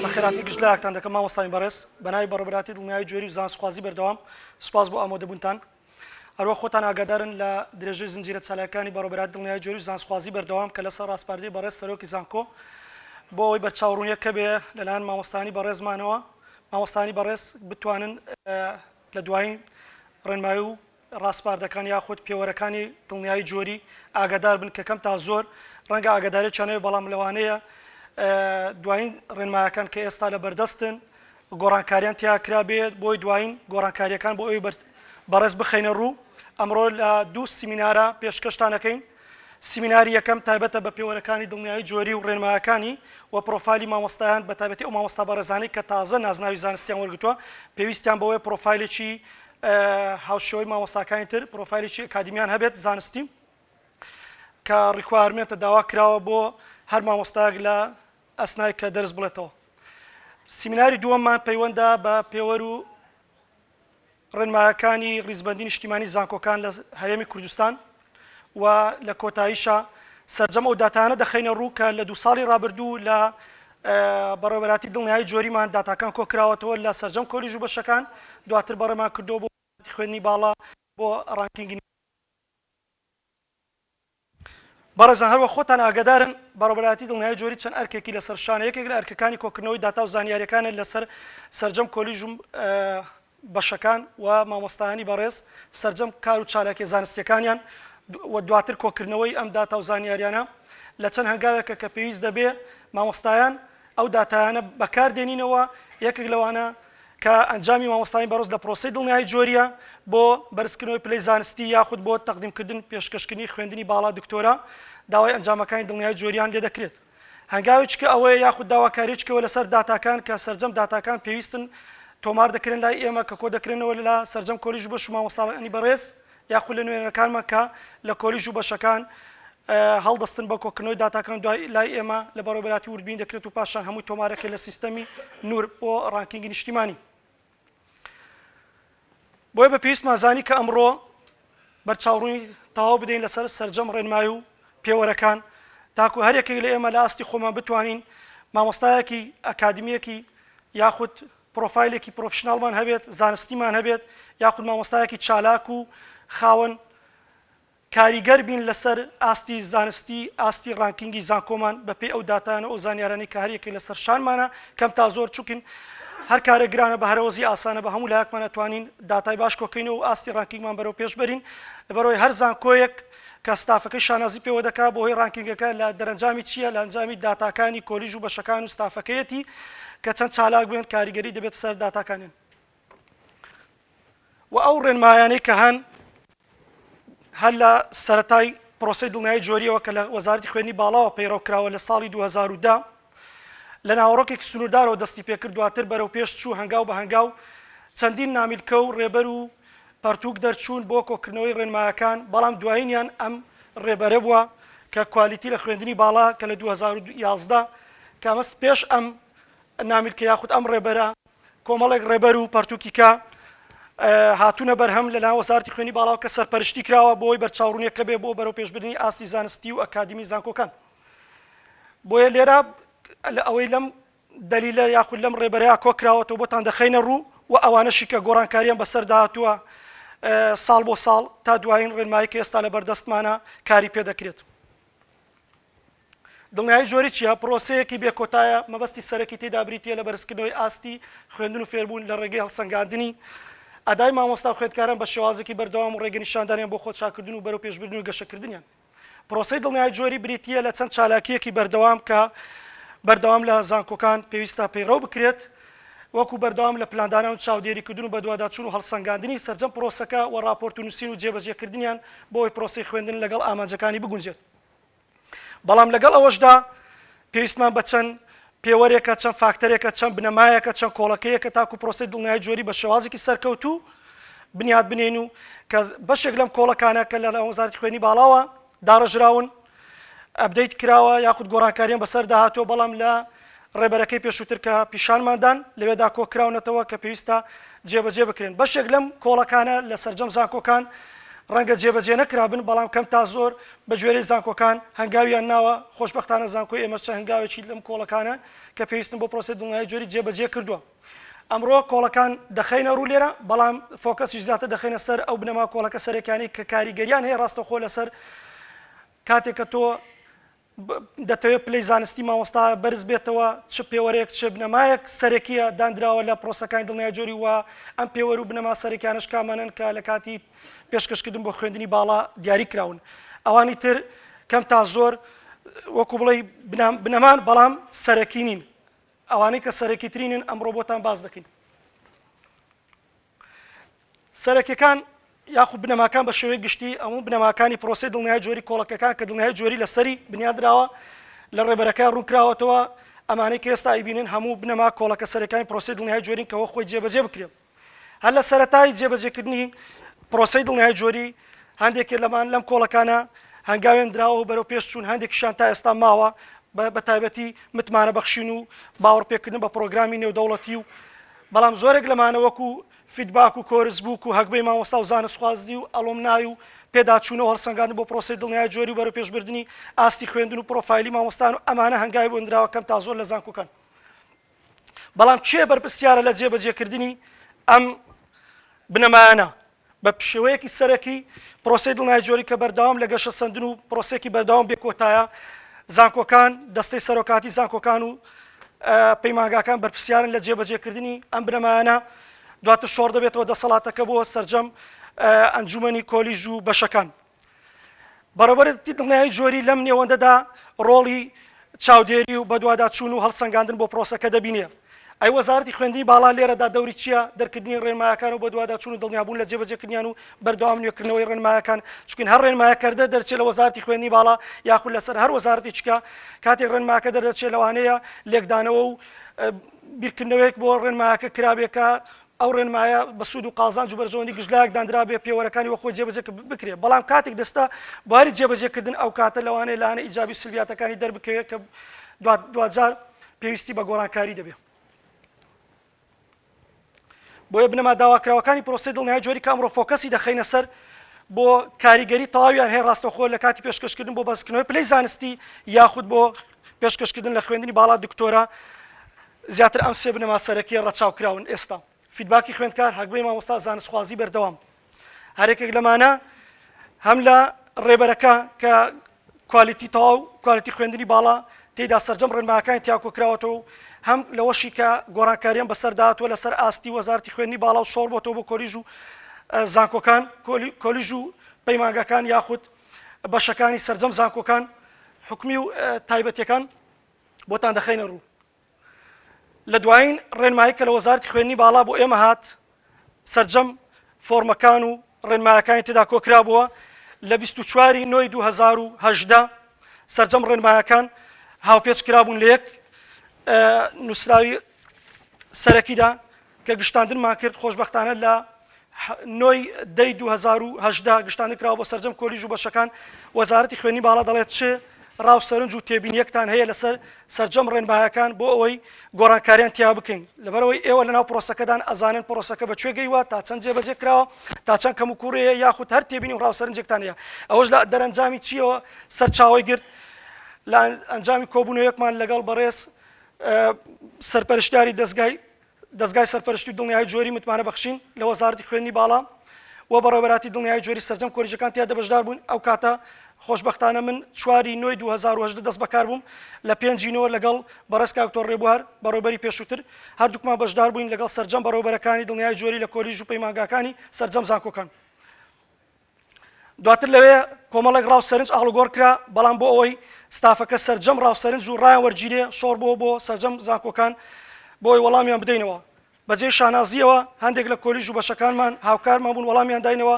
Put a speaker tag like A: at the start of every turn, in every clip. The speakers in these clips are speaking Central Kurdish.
A: بە خێراتنی گشت لایەکتان دەکەم مامۆستایانی بەڕێز بە ناوی بەڕێوەبەرایەتی دڵنیایی جوێری و زانستخوازی بەردەوام سوپاس بۆ ئامۆدەبوونتان هەروە خۆتان ئاگادارن لە درێژەی زنجیرە چالاکانی بەڕێوەبەرایەتی دڵنیایی جوێری و زانستخوازی بەردەوام کە لەسەر ڕاسپاردەی بەڕێز سەرۆکی زانکۆ بۆ ئەوەی بەرچاوڕوونییەکە بێ لەلایەن مامۆستایانی بەڕێزمانەوە مامۆستایانی بەڕێز بتوانن لە دوایین ڕێنمایی و ڕاسپاردەکان یاخود پێوەرەکانی دڵنیایی جۆری ئاگادار بن کە کەم تا زۆر ڕەنگە ئاگادارییان نەبێت بەڵام لەوانەیە دوایین ڕێنمایەکان کە ئێستا لە بەردەستن گۆڕانکاریان تیا کرابێت بۆی دوایین گۆڕانکارییەکان بۆ ئەوی بەڕێز بخەینە ڕوو ئەمڕۆ لە دوو سیمینارە پێشکەشتان دەکەین سیمیناری یەکەم تایبەتە بە پێوەرەکانی دڵنیایی جۆری و ڕێنمایەکانی و پرۆفایلی مامۆستایان بە تایبەتی ئەو مامۆستا بەڕێزانەی کە تازە نازناوی زانستیان وەرگرتووە پێویستیان بەوەیە پرۆفایلێکی هاوشێوەی مامۆستاکانی تر پرۆفایلێکی ئەکادیمیان هەبێت زانستی کە ڕیکوارمێنتە داوا کراوە بۆ هەر مامۆستایەک لە ئەسنای کە دەرس بڵێتەوە سیمیناری دووەممان پەیوەندە بە پێوەر و ڕێنمایەکانی ڕیزبەندی نیشتیمانی زانکۆکان لە هەرێمی کوردستان و لە کۆتاییشا سەرجەم ئەو داتایانە دەخەینە ڕوو کە لە دوو ساڵی ڕابردوو لە بەڕێوەبەراتی دڵنیایی جۆریمان داتاکان کۆکراوەتەوە لە سەرجەم کۆلیژ و بەشەکان دواتر بەڕێمان کردووە بۆ وەزارەتی خوێندنی باڵا بۆ ڕانکینگی بەڕێزان هەروەک خۆتان ئاگەدارن، بەڕێوەبەرایەتی دڵنیایی جۆری چەند ئەرکێکی لەسەر شانە، یەکێک لە ئەرکەکانی کۆکردنەوەی داتا و زانیارییەکانە لەسەر سەرجەم کۆلیژ و بەشەکان و مامۆستایانی بەڕێز سەرجەم کار و چالاکییە زانستییەکانیان و دواتر کۆکردنەوەی ئەم داتا و زانیاریانە لە چەند هەنگاوێکە کە پێویست دەبێ مامۆستایان ئەو داتایانە بەکاردێنینەوە یەکێک لەوانە کە ئەنجامی مامۆستایانی بەڕز لە پرۆسەی دڵنیایی جۆریە بۆ بەرزکردنەوەی پلەی زانستی یاخود بۆ تەقدیمکردن پێشکەشکردنی خوێندنی باڵا دکتۆرا داوای ئەنجامەکانی دڵنیایی جۆریان لێدەکرێت هەنگاوێکیکە ئەوەیە یاخود داواکاریەکیەوە لەسەر داتاکان کە سەرجەم داتاکان پێویستن تۆمار دەکرێن لای ئێمە کە کۆدەکرێنەوە لە سەرجەم کۆلیژ بەش و مامۆستاانی بەڕێز یاخود لە نوێنەرەکانمان کە لە کۆلیژ و بەشەکان هەڵدەستن بە کۆکردنەوەی داتاکان دوای لای ئێمە لە بەڕێوەبەراتی وردبین دەکرێت و پاشان هەمووی تۆمارەکە لە سیستەمی نور بۆ ڕانکینگی نیشتیمانی بۆیە بە پێویستمان زانی کە ئەمڕۆ بەرچاوڕووی تەواو بدەین لەسەر سەرجەم ڕێنمایی و پێوەرەکان تاکو هەرێکی لە ئێمە لە ئاستی خۆمان بتوانین مامۆستایەکی ئەکادمیەکی یاخود پڕۆفایلێکی پرۆفیشناڵمان هەبێت، زانستیمان هەبێت، یاخود مامۆستایەکی چالاک و خاوەن کاریگەر بین لەسەر ئاستی زانستی، ئاستی ڕانکینگی زانکۆمان بەپێی ئەو داتایانە و ئەو زانیارانەی کە هەریەکەی لەسەر شانمانە کەم تا زۆر چونکن هەر کارێک گرانە بە هەرەوەزی ئاسانە بە هەموو لایەکمان ئەتوانین داتای باش کۆکەینەوە و ئاستی ڕانکینگمان بەرەو پێش بەرین لەبەرئەوەی هەر زانکۆیەک کە ستافەکەی شانازی پێوە دەکا بەوهۆی ڕانکینگەکە لە دەرەنجامی چییە لە ئەنجامی داتاکانی کۆلیژ و بەشەکان و ستافەکەیەتی کە چەند چالاک بن کاریگەری دەبێتە سەر داتاکانیان و ئەو ڕێنمایانەی کە هەن هەر لە سەرەتای پرۆسەی دڵنیایی جۆریەوە کە لە وەزارەتی خوێنی باڵاوە پەیڕەو کراوە لە ساڵی 2010 لە ناوەڕۆکێکی سنووردارەوە دەستی پێ کرد، دواتر بەرەو پێش چوو، هەنگاو بە هەنگاو چەندین نامیلکە و ڕێبەر و پەڕتووک دەرچوون بۆ کۆکردنەوەی ڕێنمایەکان، بەڵام دوایینیان ئەم ڕێبەرە بووە کە کوالیتی لە خوێندنی باڵا کە لە دوو هەزار و یازدە کە ئەمە پێش ئەم نامیلکە یاخود ئەم ڕێبەرە کۆمەڵێک ڕێبەر و پەڕتووکی کە هاتوونە بەرهەم لە لایەن وەزارەتی خوێنی باڵاوە کە سەرپەرشتی کراوە بۆی بەرچاوڕوونیەکە بێ بۆ بەرەوپێشبردنی ئاستی زانستی و ئەکادیمی زانکۆکان. بۆیە لێرە لە ئەوەی لەم دەلیلە یاخود لەم ڕێبەرەیە کۆکراوەتەوە بۆتان دەخەینە ڕوو و ئەوانەشی کە گۆڕانکاریان بەسەردا هاتووە ساڵ بۆ ساڵ تا دوایین ڕێنمایی کە ئێستا لە بەردەستمانە کاری پێ دەکرێت دڵنیایی جۆری چیە پرۆسەیەکی بێکۆتایە مەبەستی سەرەکی تێدا بریتە لە بەرزکردنەوەی ئاستی خوێندن و فێربوون لە ڕێگەی هەڵسەنگاندنی ئەدای مامۆستا خوێندکاران بە شێوازێکی بەردەوام و ڕێگەنیشاندانیان بۆ خۆچاکردن و بەرەو پێشبردن و گەشەکردنیان پرۆسەی دڵنیایی جۆری بریتی یە لە چەند چالاکییەکی بەردەوام کە بەردەوام لە زانکۆکان پێویستە پەیڕەو بکرێت وەکو بەردەوام لە پلاندانان و چاودێریکردن و بەدواداچون و هەڵسەنگاندنی سەرجەم پرۆسەکە و راپۆرت و نووسین و جێبەجێکردنیان بۆی پرۆسەی خوێندن لەگەڵ ئامانجەکانی بگونجێت بەڵام لەگەڵ ئەوەشدا پێویستمان بە چەند پێوەرێکە، چەند فاکتەرێکە، چەند بنەمایەکە، چەند کۆڵەکەیەکە تاکو پرۆسەی دڵنیایی جۆری بە شێوازێکی سەرکەوتوو بنیات بنێین و کە بەشێک لەم کۆڵەکانە کە لەلایەن وەزارەتی خوێنی باڵاوە داڕێژراون ئەپدەیت کراوە یاخود گۆڕانکاریان بەسەردا هاتووە بەڵام لە ڕێبەرەکەی پێشووتر کە پیشانماندان لەوێدا کۆکراونەتەوە کە پێویستە جێبەجێ بکرێن بەشێک لەم کۆڵەکانە لە سەرجەم زانکۆکان ڕەنگە جێبەجێ نەکرابن بەڵام کەم تا زۆر بەگوێرەی زانکۆکان هەنگاویان ناوە، خۆشبەختانە زانکۆی ئێمەش چەند هەنگاوێکی لەم کۆڵەکانە کە پێویستن بۆ پرۆسەی دڵنیایی جۆری جێبەجێ کردووە. ئەمڕۆ کۆڵەکان دەخەینە ڕوو لێرە، بەڵام فۆکەسیش زیاتر دەخەینە سەر ئەو بنەما کۆڵەکە سەرەکیانەی کە کاریگەرییان هەیە ڕاستەوخۆ لەسەر کاتێک کە تۆ دەتەوێت پلەی زانستی مامۆستا بەرز بێتەوە چ پێوەرێک چ بنەمایەک سەرەکییە داندراوە لە پرۆسەکانی دڵنیایی جۆری و ئەم پێوەر و بنەما سەرەکیانەش کامانەن کە لە کاتی پێشکەشکردن بۆ خوێندنی باڵا دیاری کراون ئەوانی تر کەم تا زۆر وەکو بڵێ بنەمان بەڵام سەرەکی نین ئەوانەی کە سەرەکی ترینن ئەم ڕۆبۆتان باز دەکەین سەرەکەکان یاخو بنەماکان بە شێوەی گشتی ئەمو بنەماکانی پرۆسی دڵنیای جۆری کۆڵەکەکان کە دڵنیای جۆری لەسەری بنیادراوە لە ڕێبەرەکە ڕوونکراوەتەوە ئەمانەی کە ئێستا ئەیبینن هەموو بنەما کۆڵەکە سەرەکانی پرۆسی دڵنیای جۆرین کەەوە خۆی جێبەجێ بکرێت هەر لە سەرەتای جێبەجێکردنی پرۆسەی دڵنیایی جۆری، هەندێکێ لەمان لەم کۆڵەکانە هەنگاوێن دراوە و بەرەو پێش چوون، هەندێکیشیان تا ئێستا ماوە، بە بە تایبەتی متمانەبەخشین و باوەڕپێکردن بە پرۆگرامی نێودەوڵەتی و بەڵام زۆرێک لەمانە وەکو فیدباک و کۆرس بووک و هەگبەی مامۆستا و زانستخوازی و ئەڵۆمنای و پێداچوونە و هەڵسەنگاندن بۆ پرۆسەی دڵنیایی جۆری و بەرەوپێشبردنی ئاستی خوێندن و پرۆفایلی مامۆستایان و ئەمانە هەنگاوی بۆ نراوە کەم تا زۆر لە زانکۆکان. بەڵام کێ بەرپرسیارە لە جێبەجێکردنی ئەم بنەمایانە؟ بە شێوەیەکی سەرەکی پرۆسەی دڵنای جۆری کە بەردەوام لە گەشەسەندن و پرۆسێکی بەردەوام بێکۆتایە، زانکۆکان، دەستەی سەرۆکاتی زانکۆکان و پەیمانگاکان بەرپرسیارن لە جێبەجێکردنی ئەم بنەمایانە، دواتر شۆڕ دەبێتەوە دەسەڵاتەکە بۆ سەرجەم ئەنجومەنی کۆلیژ و بەشەکان. بەڕێوەبەرێتی دڵنیایی جۆری لەم نێوەندەدا ڕۆڵی چاودێری و بەدواداچوون و هەڵسەنگاندن بۆ پرۆسەکە دەبینێ. ئەی وەزارەتی خوێندنی باڵا لێرەدا دەوری چییە؟ دەرکردنی ڕێنمایەکان و بەدواداچوون و دڵنیابوون لە جێبەجێکردنیان و بەردەوام نوێکردنەوەی ڕێنمایەکان، چونکە هەر ڕێنمایەکردە دەرچێ لە وەزارەتی خوێندنی باڵا یاخود لەسەر هەر وەزارەتێکیکە کاتێک ڕێنماکە دەردەچێ لەوانەیە لێکدانەوە و بیرکردنەوەیەک بۆ ڕێنمایەکە کرابێ کە ئەو ڕێنمایە بە سوود و قازانج و بەرژەوەندی گشتلایەک داندرابێ پێوەرەکانی وەخۆی جێبەجێ بکرێ بەڵام کاتێک دەچتە بواری جێبەجێ کردن ئەو کاتە لەوانەیە لایەنە ئیجابی و سلبیاتەکانی دەربکەوێ کە دواجار پێویستی بە گۆڕانکاری دەبێ. بۆیە بنەما داواکراوەکانی پرۆسەی دڵنیایی جۆری کە ئەمڕۆ فۆکەسی دەخەینە سەر بۆ کاریگەری تەواویان هەیە ڕاستەوخۆ لە کاتی پێشکەشکردن بۆ بەسکردنەوەی پلەی زانستی یاخود بۆ پێشکەشکردن لە خوێندنی باڵا دکتۆرا زیاتر ئەم سێ بنەما سەرەکیە ڕەچاو کراون ئێستا فیدباکی خوێندکار هەگبەی مامۆستا زانستخوازی بەردەوام هەر یەکێک لەمانە هەم لە ڕێبەرەکە کە کوالیتی تەواو کوالیتی خوێندنی باڵا تێدا سەرجەم ڕێنماکانی تیاکۆکراوەتەوە هەم لەوەشی کە گۆڕانکاریان بەسەرداتوە لەسەر ئاستی وەزارتی خوێنی باڵا و شۆڕ بۆتەوە بۆ کۆلیژ و زانکۆکان کۆلیژ و پەیمانگەکان یاخود بەشەکانی سەرجەم زانکۆکان حکومی و تایبەتەکان بۆتان دەخەینە ڕوو. لە دوایین ڕێنمایی کە لە وەزارەتی خوێندنی باڵا بۆ ئێمە هات، سەرجەم فۆڕمەکان و ڕێنمایەکانی تێدا کۆکرابووە، لە بیست و چوار ی نۆی دوو هەزار و هەژدە سەرجەم ڕێنمایەکان هاوپێچ کرابوون لە یەک نووسراوی سەرەکیدا، کە گشتاندنمان کرد خۆشبەختانە لە نۆ ی دە ی دوو هەزار و هەژدە گشتاندن کراوە بۆ سەرجەم کۆلیژ و بەشەکان، وەزارەتی خوێندنی باڵا دەڵێت چ ڕا و سەرنج و تێبینییەکتان هەیە لەسەر سەرجەم ڕێنمایەکان بۆ ئەوەی گۆڕانکارییان تیا بکەین، لەبەرئەوەی ئێوە لەناو پرۆسەکەدان ئەزانن پرۆسەکە بە کوێ گەیوە تا چەند جێبەجێ کراوە تا چەند کەموکووڕی هەیە یاخود هەر تێبینی و ڕا و سەرنجێکتان هەیە ئەوەش لە دەرئەنجامی چییەوە سەرچاوەی گرت لە ئەنجامی کۆبوونەوەیەکمان لەگەڵ بەڕێز سەرپەرشتیاری دەزگای دەزگای سەرپەرشتی و دڵنیایی جۆری متمانە بەخشین لە وەزارەتی خوێندنی باڵا و بەڕێوەبەراتی دڵنیایی جۆری سەرجەم کۆلیژەکان تیادا بەشدار بوون ئەو کاتە خۆشبەختانە من چوار ی نۆی دوو هەزار و هەژدە دەست بەکار بووم لە پێنج ی نۆ لەگەڵ بەڕێز کاک تۆر ڕێبوار بەڕێوەبەری پێشووتر هەردووکمان بەشدار بووین لەگەڵ سەرجەم بەڕێوەبەرەکانی دڵنیایی جۆری لە کۆلیژ و پەیمانگاکانی سەرجەم زانکۆکان دواتر لەوێ کۆمەڵێک ڕاو سەرنج ئاڵوگۆڕ کرا، بەڵام بۆ ئەوەی ستافەکە سەرجەم ڕاو سەرنج و ڕایان وەرگیرێ، شۆڕ بۆوە بۆ سەرجەم زانکۆکان بۆ ئەوەی وەڵامیان بدەینەوە. بەجێی شانازییەوە هەندێک لە کۆلیژ و بەشەکانمان هاوکارمان بوون وەڵامیان داینەوە،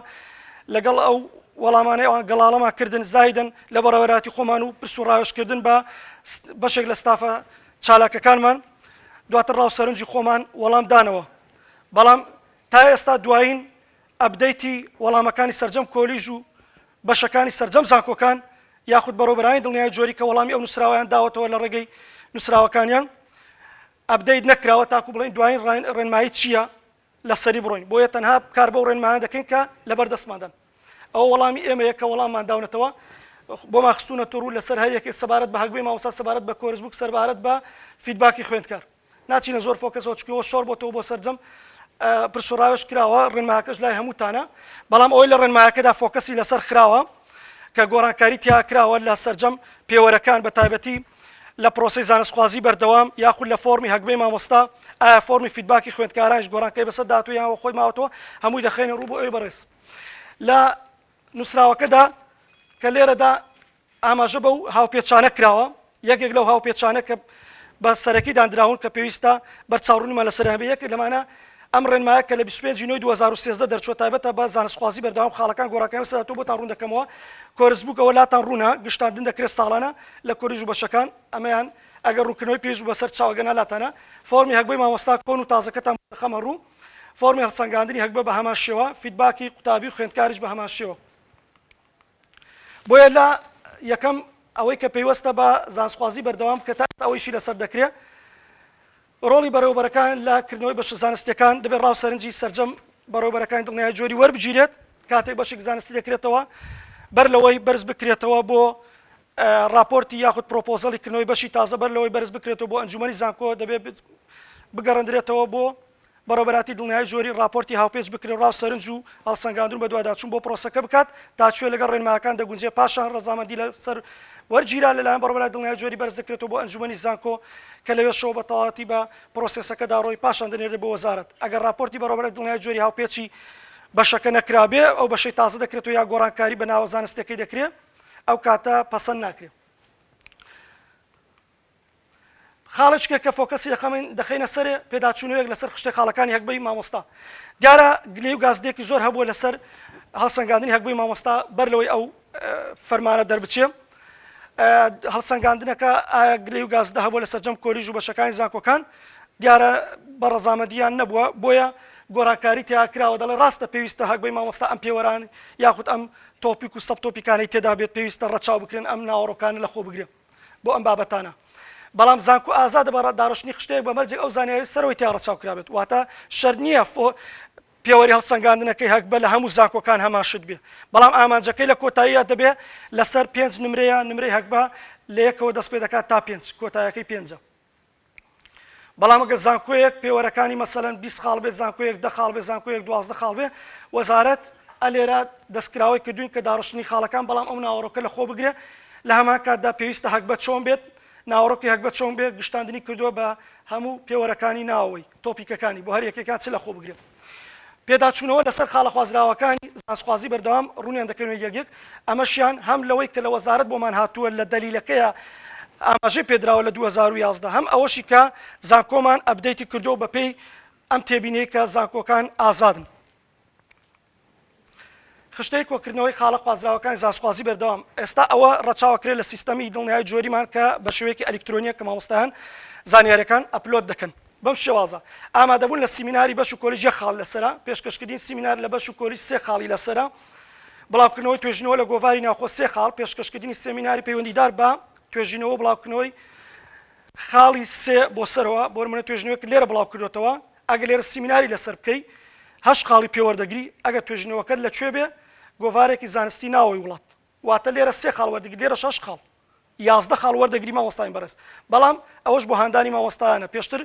A: لەگەڵ ئەو وەڵامانەی ئەوان گەڵاڵەمان کردن زایدن لە بەڕێوەراتی خۆمان و پرس و ڕاوێژ کردن بە بەشێک لە ستافە چالاکەکانمان دواتر ڕاو سەرنجی خۆمان وەڵام دانەوە، بەڵام تا ئێستا دوایین ئەپدەیتی وەڵامەکانی سەرجەم کۆلیژ و بەشەکانی سەرجەم زانکۆکان یاخود بەڕێوەبەرانی دڵنیایی جۆری کە وەڵامی ئەو نوسراوەیان داوەتەوە لە ڕێگەی نوسراوەکانیان ئەپدەیت نەکراوە تاکو بڵێین دوایین ڕێنمایی چییە لەسەری بڕۆین بۆیە تەنها کار بەو ڕێنمایانە دەکەین کە لەبەر دەستماندان ئەوە وەڵامی ئێمەیە کە وەڵاممان داونەتەوە بۆمان خستونەتە ڕوو لەسەر هەر یەکێک سەبارەت بە هەگبەی مامۆستا سەبارەت بە کۆرس بووک سەربارەت بە فیدباکی خوێندکار. ناچینە زۆر فۆکەسەوە چونکی ئەوە شۆڕ بۆتەوە بۆ سەرجەم پرس و ڕاوێژ کراوە ڕێنماکەش لای هەمووتانە بەڵام ئەوەی لە ڕێنماکەدا فۆکەسی لەسەر خراوە کە گۆڕانکاری تیا کراوە لە سەرجەم پێوەرەکان بە تایبەتی لە پرۆسی زانستخوازی بەردەوام یاخود لە فۆرمی هەگبەی مامۆستا ئایا فۆرمی فیدباکی خوێندکارانش گۆڕانکەی بەسەر دااتوو یانەوە خۆی ماوەتەوە هەمووی دەخێنە ڕوو بۆ ئەوی بەڕێز لە نووسراوەکەدا کە لێرەدا ئاماژە بەو هاوپێچانە کراوە، یەکێک لەو هاوپێچانە کە بە سەرەکی داندراون کە پێویستە بەرچاوڕوونیمان لەسەر هەبێت، یەکێک لەمانە ئەم ڕێنمایە کە لە بیست و پێنج ی نۆی دوو هەزار و سێزدە دەرچووە تایبەتە بە زانستخوازی بەردەوام خاڵەکان گۆڕانکاریان لەسەر هاتووە بۆتان ڕوون دەکەمەوە کۆرس بووک ئەوە لاتان ڕوونە گشتاندن دەکرێت ساڵانە لە کۆلیژ و بەشەکان ئەمەیان ئەگەر ڕوونکردنەوەی پێویست بوو بەسەر چاو ئەگەرنا لاتانە فۆڕمی هەگبەی مامۆستا کۆن و تازەکەتان بۆ دەخەمە ڕوو فۆڕمی هەڵسەنگاندنی هەگبە بە هەمان شێوە فیدباکی قوتابی و خوێندکاریش بە هەمان شێوە. بۆیە لە یەکەم ئەوەی کە پەیوەستە بە زانستخوازی بەردەوام بکە تا ئێستا ئەوەیشی لەسەر دەکرێ ڕۆڵی بەڕێوەبەرەکان لە کردنەوەی بەشە زانستیەکان دەبێت ڕاو سەرنجی سەرجەم بەڕێوەبەرەکانی دڵنیای جۆری وەربگیرێت کاتێک بەشێک زانستی دەکرێتەوە بەر لەوەی بەرز بکرێتەوە بۆ راپۆرتی یاخود پرۆپۆزەڵی کردنەوەی بەشی تازە بەر لەوەی بەرز بکرێتەوە بۆ ئەنجومی زانکۆ دەبێت بگەڕندرێتەوە بۆ بەڕێوەبەرایەتی دڵنیایی جۆری ڕاپۆرتی هاوپێچ بکرێ ڕا و سەرنج و هەڵسەنگاندن و بەدواداچوون بۆ پرۆسەکە بکات تا کوێ لەگەڵ ڕێنمایەکان دەگونجێ پاشان ڕەزامەندی لەسەر وەرگیران لەلایەن بەڕێوەبەرای دڵنیایی جۆری بەرز دەکرێتەوە بۆ ئەنجومەنی زانکۆ کە لەوێشەوە بە تەواوەتی بە پرۆسێسەکە داڕۆی پاشان دەنێردرێ بۆ وەزارەت ئەگەر ڕاپۆرتی بەڕێوەبەرای دڵنیایی جۆری هاوپێچی بەشەکە نەکرابێ ئەو بەشەی تازە دەکرێتەوە یا گۆڕانکاری بە ناوە زانستیەکەی دەکرێ ئەو کاتە پەسەند ناکرێ. خاڵێچکێک کە فۆکەسی دەخەمین دەخەینە سەرێ پێداچوونەوەیەک لەسەر خشتەی خاڵەکانی هەگبەی مامۆستا دیارە گلەی و گازدێکی زۆر هەبووە لەسەر هەڵسەنگاندنی هەگبەی مامۆستا بەر لەوەی ئەو فەرمانە دەربچێ هەڵسەنگاندنەکە ئایا گلەی و گازدە هەبوو لە سەررجەم کۆلیژ و بەشەکانی زانکۆکان دیارە بە ڕەزامەدیان نەبووە بۆیە گۆڕانکاری تیا کراوە دەڵێ ڕاستە پێویستە هەگبەی مامۆستا ئەم پێوەران یاخود ئەم تۆپیک و سەب تۆپیکانی تێدا بێت پێویستە ڕەچاو بکرێن ئەم ناوەڕۆکانە لە خۆ بگرێن بۆ ئەم بابەتانە. بەڵام زانکۆ ئازادە بە داڕشتنی خشتەیەک بە مەرجێک ئەو زانیاریە سەرەوەی تیا ڕەچاو کرابێت واتە شەرت نییە فۆ پێوەری هەڵسەنگاندنەکەی هەگبە لە هەموو زانکۆکان هەمان شت بێ بەڵام ئامانجەکەی لە کۆتاییە دەبێ لەسەر پێنج نمرەیە نمرەی هەگبە لە یەکەوە دەست پێ دەکات تا پێنج کۆتایەکەی پێنجە. بەڵام ئەگەر زانکۆیەک پێوەرەکانی مەسەلەن بیست خاڵ بێت زانکۆیەک دە خاڵ بێت زانکۆیەک دوازدە خاڵ بێ وەزارەت ئە لێرە دەستکراوەی کردوین کە داڕشتنی خاڵەکان بەڵام ئەو ناوەڕۆکە لە خۆ بگرێ لە هەمان کاتدا پێویستە هەگبەت چۆن بێت ناوەڕۆکی هەگبەت چۆن بێت گشتاندنی کردووە بە هەموو پێوەرەکانی ناوەوەی تۆپیکەکانی بۆ هەر یەکێکیان چ لەخۆ بگرێت. پێداچوونەوە لەسەر خاڵە خوازراوەکانی زانستخوازی بەردەوام ڕوونیان دەکەنەوە یەک یەک، ئەمەشیان هەم لەوەی کە لە وەزارەت بۆمان هاتووە لە دەلیلەکەیە ئاماژەی پێدراوە لە دوو هەزار و یازدە، هەم ئەوەشی کە زانکۆمان ئەپدەیتی کردووە بەپێی ئەم تێبینیەی کە زانکۆکان ئازادن. خشتەی کۆکردنەوەی خاڵە خوازراوەکانی زانستخوازی بەردەوام ئێستا ئەوە ڕەچاوە کرێ لە سیستەمی دڵنیایی جۆریمان کە بە شێوەیەکی ئەلیکترۆنیە کە مامۆستایان زانیاریەکان ئەپلۆد دەکەن بەم شێوازە ئامادەبوون لە سیمیناری بەش و کۆلیژ یەک خاڵ لەسەرە پێشکەشکردین سیمینار لە بەش و کۆلیژ سێ خاڵی لەسەرە بڵاوکردنەوەی توێژینەوە لە گۆڤاری ناوخۆ سێ خاڵ پێشکەشکردنی سێمیناری پەیوەندیدار بە توێژینەوە بڵاوکردنەوەی خاڵی سێ بۆ سەرەوە بۆ منە توێژنوێک لێرە بڵاو کردوێتەوە ئەگەر لێرە سیمیناری لەسەر بکەی هەشت خاڵی پێ وەردەگری، ئەگەر توێژینەوەکەت لە کوێ بێ گۆڤارێکی زانستی ناوەوەی وڵات واتە لێرە سێ خاڵ وەردەگری لێرەش هەشت خاڵ یازدە خاڵ وەردەگری مامۆستایان بەڕێز بەڵام ئەوەش بۆ هاندانی مامۆستایانە پێشتر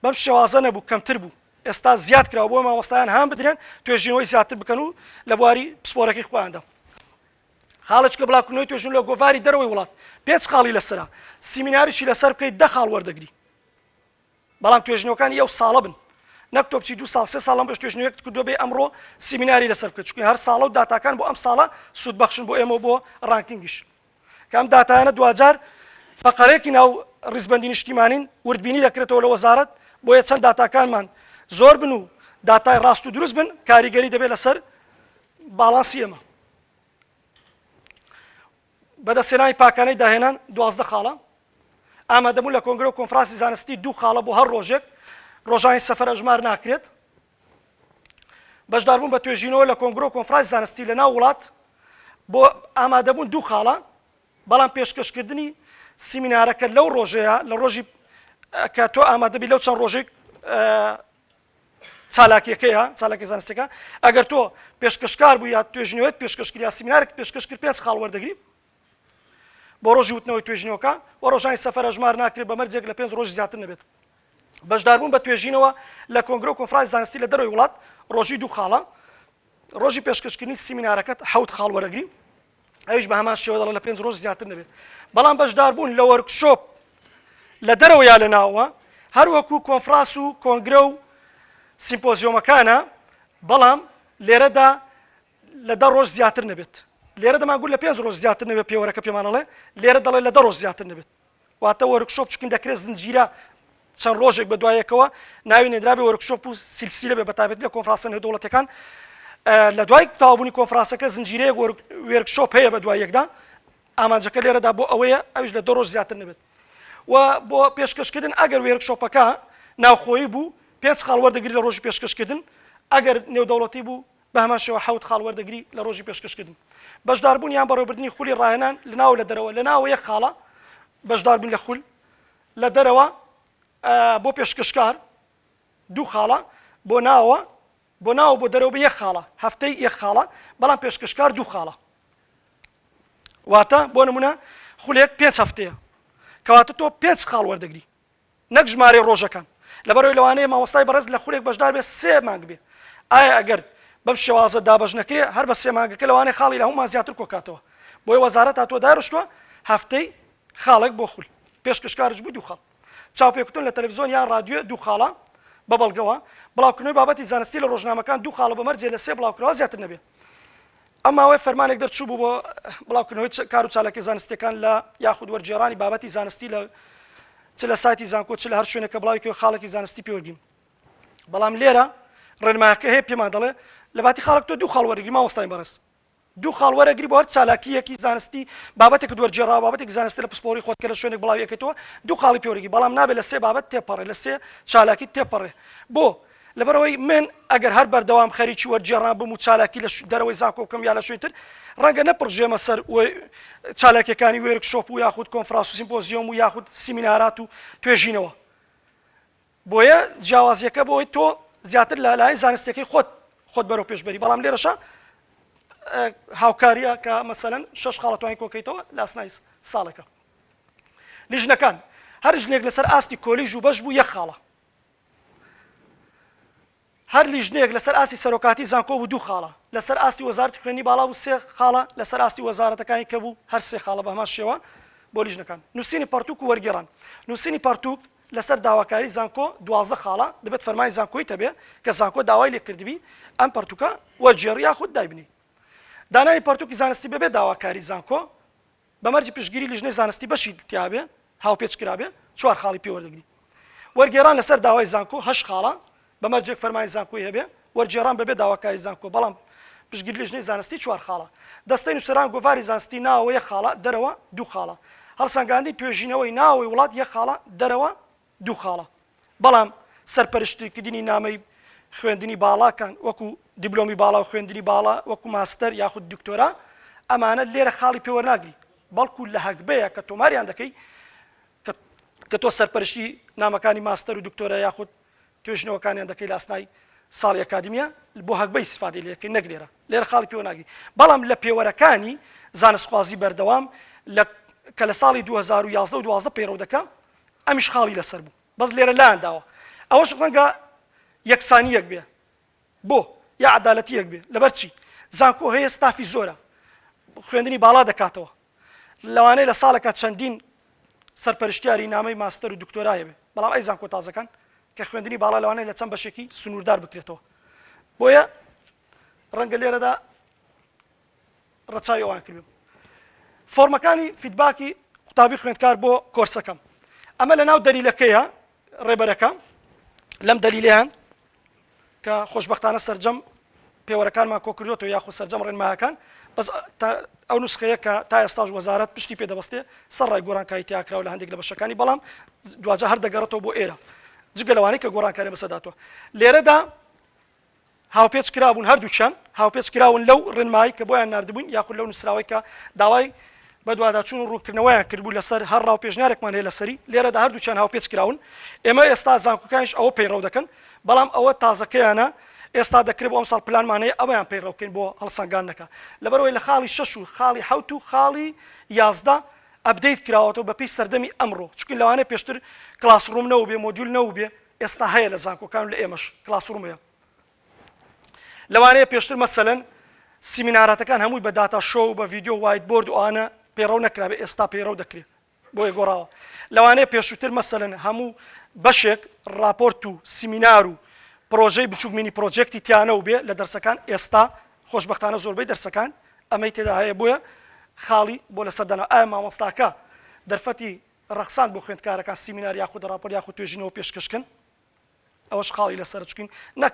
A: بەم شێوازە نەبوو کەمتر بوو ئێستا زیاد کراوە بۆ مامۆستایان هان بدرێن توێژینەوەی زیاتر بکەن و لە بواری پسپۆرەکەی خۆیاندا خاڵە چکە بڵاوکردنەوەی توێژن لە گۆڤاری دەرەوەی وڵات پێنج خاڵی لەسرە سیمیناریشی لەسەر بکەیت دە خاڵ وەردەگری بەڵام توێژینەوەکانی ئەو ساڵە بن نەک تۆ بچی دو ساڵ سێ ساڵ لەم ڕۆژ توێژینەوەیەکت کردووە بێ ئەمڕۆ سیمیناری لەسەر بکەیت چونکە هەر ساڵە و داتاکان بۆ ئەم ساڵە سوودبەخشن بۆ ئێمە و بۆ ڕانکینگیش کە ئەم داتایانە دواجار فەقەرێکی ناو ڕیزبەندی نیشتیمانین وردبینی دەکرێتەوە لە وەزارەت بۆیە چەند داتاکانمان زۆر بن و داتای ڕاست و دروست بن کاریگەری دەبێت لەسەر باڵانسی ئێمە بەدەستهێنانی پاکانەی داهێنان دوازدە خاڵە ئامادەبوون لە کۆنگرە و کۆنفرانسی زانستی دوو خاڵە بۆ هەر ڕۆژێک، ڕۆژانی سەفەر ئەژمار ناکرێت. بەشداربوون بە توێژینەوە لە کۆنگرە و کۆنفرانسی زانستی لە ناو وڵات بۆ ئامادەبوون دوو خاڵە، بەڵام پێشکەشکردنی سیمینارەکە لەو ڕۆژەیە لە ڕۆژی کە تۆ ئامادەبی لەو چەند ڕۆژەی چالاکیەکەیە، چالاکیە زانستیەکە، ئەگەر تۆ پێشکەشکار بووی یا توێژینەوەت پێشکەش کرد یا سیمینارێکت پێشکەش کرد پێنج خاڵ وەردەگری بۆ ڕۆژی وتنەوەی توێژینەوەکە و ڕۆژانی سەفەر ئەژمار ناکرێت بە مەرجێک لە پێنج ڕۆژ زیاتر نەبێت بەشداربوون بە توێژینەوە لە کۆنگرە و کۆنفرانسی زانستی لە دەرەوەی وڵات ڕۆژی دوو خاڵە ڕۆژی پێشکەشکردنی سیمینارەکەت حەوت خاڵ وەرەگری ئەویش بە هەمان شێوە دەڵێ لە پێنج ڕۆژ زیاتر نەبێت بەڵام بەشداربوون لە وەرکشۆپ لە دەرەوە یا لە ناوە هەروەکو کۆنفراس و کۆنگرە و سیمپۆزیۆمەکانە بەڵام لێرەدا لە دە ڕۆژ زیاتر نەبێت لێرە دەماگول لە پێنج ڕۆژ زیاتر نەبێت پێوەرەکە پێمانەڵێ لێرە دەڵێ لە دە ڕۆژ زیاتر نەبێت واتە وۆرکشۆپ چکن دەکرێت زنجیرە چەند ڕۆژێک بە دوایەکەوە ناوی نێدرابێ وەرکشۆپ و سلسیلە بێ بەتابێت لە کۆنفراسە نێودوڵەتەکان لە دوای تاوابوونی کۆنفراسەکە زنجیرەیە وێرکشۆپ هەیە بە دوای یەکدا ئامانجەکە لێرەدا بۆ ئەوەیە ئەوش لە دە ڕۆژ زیاتر نەبێت و بۆ پێشکەشکردن ئەگەر وێرکشۆپەکە ناوخۆی بوو پێنج خاڵ وەردەگری لە ڕۆژی پێشکەشکردن ئەگەر نێودەوڵەتی بوو بە هەمان شێوە حەوت خاڵ وەردەگری لە ڕۆژی پێشکەشکردن. بەشداربوون یان بەڕێوەبردنی خولی ڕاهێنان لە ناو و لە دەرەوە، لە ناوەوە یەک خاڵە، بەشداربوون لە خول، لە دەرەوە، بۆ پێشکەشکار، دوو خاڵە، بۆ ناوەوە، بۆ ناو و بۆ دەرەوە بە یەک خاڵە، هەفتەی یەک خاڵە، بەڵام پێشکەشکار دوو خاڵە. واتە بۆ نموونە خولێک پێنج هەفتەیە، کەواتە تۆ پێنج خاڵ وەردەگری. نەک ژمارەی ڕۆژەکان لەبەرەوەی لەوانەیە مامۆستای بەڕێز لە خولێک بەشدار بێت سێ مانگ بێ ئایا ئەگەر بەم شێوازە دابەش نەکرێ هەر بە سێ مانگەکە لەوانەیە خاڵی لە هەموومان زیاتر کۆکاتەوە بۆیە وەزارەت هاتووە دارشتووە هەفتەی خاڵێک بۆ خول پێشکەشکارش بوو دوو خاڵ چاوپێکوتن لە تەلەڤزیۆن یان رادیۆ دوو خاڵە بە بەڵگەوە بڵاوکردنەوەی بابەتی زانستی لە ڕۆژنامەکان دوو خاڵە بە مەرجێ لە سێ بڵاوکراوە زیاتر نەبێ ئەم ماوەیە فەرمانێک دەرچووبوو بۆ بڵاوکردنەوەی کار و چالاکیە زانستیەکان لە یاخود وەرگێڕانی بابەتی زانستی لە چ لە سایتی زانکۆ چ لە هەر شوێنێکە بڵاوکەوە خاڵێکی زانستی پێوەبین بەڵام لێرە ڕێنمایەکە هەیە پێمان دەڵێ لە باتی خاڵک تۆ دوو خاڵ وەرگری ماوەستای بەڕێز دوو خاڵ وەرەگری بۆ هەر چالاکیەکی زانستی بابەتێک دوەرجێڕا بابەتێک زانستی لە پسپۆری خۆت کە لە شوێنێک بڵاویەکەتەوە دوو خاڵی پێوەرگی بەڵام نابێت لە سێ بابەت تێپەڕێ لە سێ چالاکی تێپەڕێ بۆ لەبەرئەوەی من ئەگەر هەر بەردەوام خەریکی وەرگێڕان بم و چالاکی لە دەرەوەی زانکۆ بکەم یا لە شوێنی تر، ڕەنگە نەپڕژێمە سەر چالاکییەکانی وێرک شۆپ و یاخود کۆنفراس و سیمپۆزیۆم و یاخود سیمینارات و توێژینەوە. بۆیە جیاوازییەکە بۆی تۆ زیاتر لە لایەن زانستییەکەی خۆت خۆت بەرەو پێش بەری، بەڵام لێرەشە هاوکارییە کە مەسەلەن شەش خاڵە توانین کۆکەیتەوە لە ئەسنای ساڵێکە. لیژنەکان، هەر ژنێک لەسەر ئاستی کۆلیژ و بەش بوو یەک خاڵە. هەر لیژنەیەک لەسەر ئاستی سەرۆکاتی زانکۆ بوو دوو خاڵە لەسەر ئاستی وەزارەتی خوێندنی باڵا بوو سێ خاڵە لەسەر ئاستی وەزارەتەکانی کە بوو هەر سێ خاڵە بەهەمان شێوە بۆ لیژنەکان نووسینی پەڕتووک و وەرگێڕان نووسینی پەڕتووک لەسەر داواکاری زانکۆ دوازدە خاڵە دەبێت فەرمانی زانکۆی تەبێ کە زانکۆ داوای لێکردبی ئەم پەڕتووکە وەرگێڕی یاخود دایبنی دانانی پەڕتووکی زانستی بەبێ داواکاری زانکۆ بە مەرجی پشتگیری لیژنەی زانستی بەشی تیابێ هاوپێچ کرابێ چوار خاڵی پێ وەردەگری وەرگێران لەسەر داوای زانکۆ هەشت خاڵە بە مەرجێک فەرمانی زانکۆی هەبێ وەرگێڕان بەبێ داواکاری زانکۆ بەڵام پشتگیری لیژنەی زانستی چوار خاڵە دەستەی نووسەران گۆڤاری زانستی ناوەوە یەک خاڵە دەرەوە دوو خاڵە هەڵسەنگاندنی توێژینەوەی ناوەوەی وڵات یەک خاڵە دەرەوە دوو خاڵە بەڵام سەرپەرشتیکردنی نامەی خوێندنی باڵاکان وەکو دیبلۆمی باڵا و خوێندنی باڵا وەکو ماستەر یاخود دکتۆرا ئەمانە لێرە خاڵی پێوەناگری بەڵکو لە هەگبەیە کە تۆماریان دەکەی کە تۆ سەرپەرشتی نامەکانی ماستەر و دکتۆرە یاخود توێژنەوەکانیان دەکەی لە ئەسنای ساڵی ئەکادمیە بۆ هەگبەی سفادی لەکەی نەک لێرە لێرە خاڵی پێوە ناگری بەڵام لە پێوەرەکانی زانستخوازی بەردەوام کە لە ساڵی 2011 دوازە پەیڕەو دەکەم ئەمیش خاڵی لەسەر بوو بەس لێرە لایان داوە ئەوەش ڕەنگە یەکسانیەک بێ بۆ یا عدالەتیەک بێ لەبەر چی زانکۆ هەیە ستافی زۆرە خوێندنی باڵا دەکاتەوە لەوانەیە لە ساڵەکە چەندین سەرپەرشتیاری نامەی ماستەر و دکتۆرایە بێ بەڵام ئەی زانکۆ تازەکان کە خوێندنی باڵا لەوانەیە لە چەند بەشێکی سنووردار بکرێتەوە بۆیە ڕەنگە لێرەدا ڕەچاوی ئەوان کردبم. فۆرمەکانی فیدباکی قوتابی خوێندکار بۆ کۆرسەکەم ئەمە لەناو دەلیلەکەیە ڕێبەرەکە لەم دەلیلیان کە خۆشببختانە سرجەم پێوەرەکانمان کۆکردوەوە یاخو سرجەم ڕێنمایەکان بەس ئەو نسخەیە کە تا ئێستاش وەزارت پشتی پێدەبستێ سەر ڕای گۆرانکای تیاکراوە لە هەندێک لە بەشەکانی بەڵام دواجە هەر دەگەڕێتەوە بۆ ئێرە جگە لەوانەی کە گۆڕانکاری بەسەداتوە لێرەدا هاوپێچ کرابوون، هەردووکیان هاوپێچ کراون لەو ڕێنمایی کە بۆیان ناردبووین یاخود لەو نووسراوەی کە داوای بەدواداچوون و ڕوونکردنەوەیان کردبوو لەسەر هەر ڕا و پێشنیارێکمان هەیە لەسەری، لێرەدا هەردووکیان هاوپێچ کراون، ئێمە ئێستا زانکۆکانیش ئەوە پەیڕەو دەکەن، بەڵام ئەوە تازەکەیانە، ئێستا دەکرێ بۆ ئەمساڵ پلانمان هەیە ئەوەیان پەیڕەو بکەین بۆ هەڵسەنگاندنەکە، لەبەرئەوەی لە خاڵی شەش و خاڵی حەوت و خاڵی یازدە ئەپدەیت کراوەتەوە بەپێی سەردەمی ئەمڕۆ، چونکە لەوانەیە پێشتر کڵاسڕووم نەبووبێ، مۆدیول نەبووبێ، ئێستا هەیە لە زانکۆکان و لە ئێمەش کلاسڕوم هەیە لەوانەیە پێشتر مەسەلەن سیمیناراتەکان هەمووی بە داتا شۆ و بە ڤیددیو و وایت بۆرد و ئەوانە پەیڕەو نەکرابێ ئێستا پەیڕەو دەکرێت بۆیە گۆڕاوە لەوانەیە پێشووتر مەسەلەن هەموو بەشێک ڕاپۆرت و سیمینار و پرۆژەی بچووک مینی پرۆجێکتی تیانە و بێ لە دەرسەکان ئێستا خۆشببختانە زۆربەی دەرسەکان ئەمەی تێدا هەیە بۆیە خاڵی بۆ لەسەر دەنا ئایا مامۆستاکە دەرفەتی ڕەخساند بۆ خوێندکارەکان سیمینار یاخود ڕاپۆرت یاخود توێژینەوە پێشکەشکن ئەوەش خاڵی لەسەر چکین نەک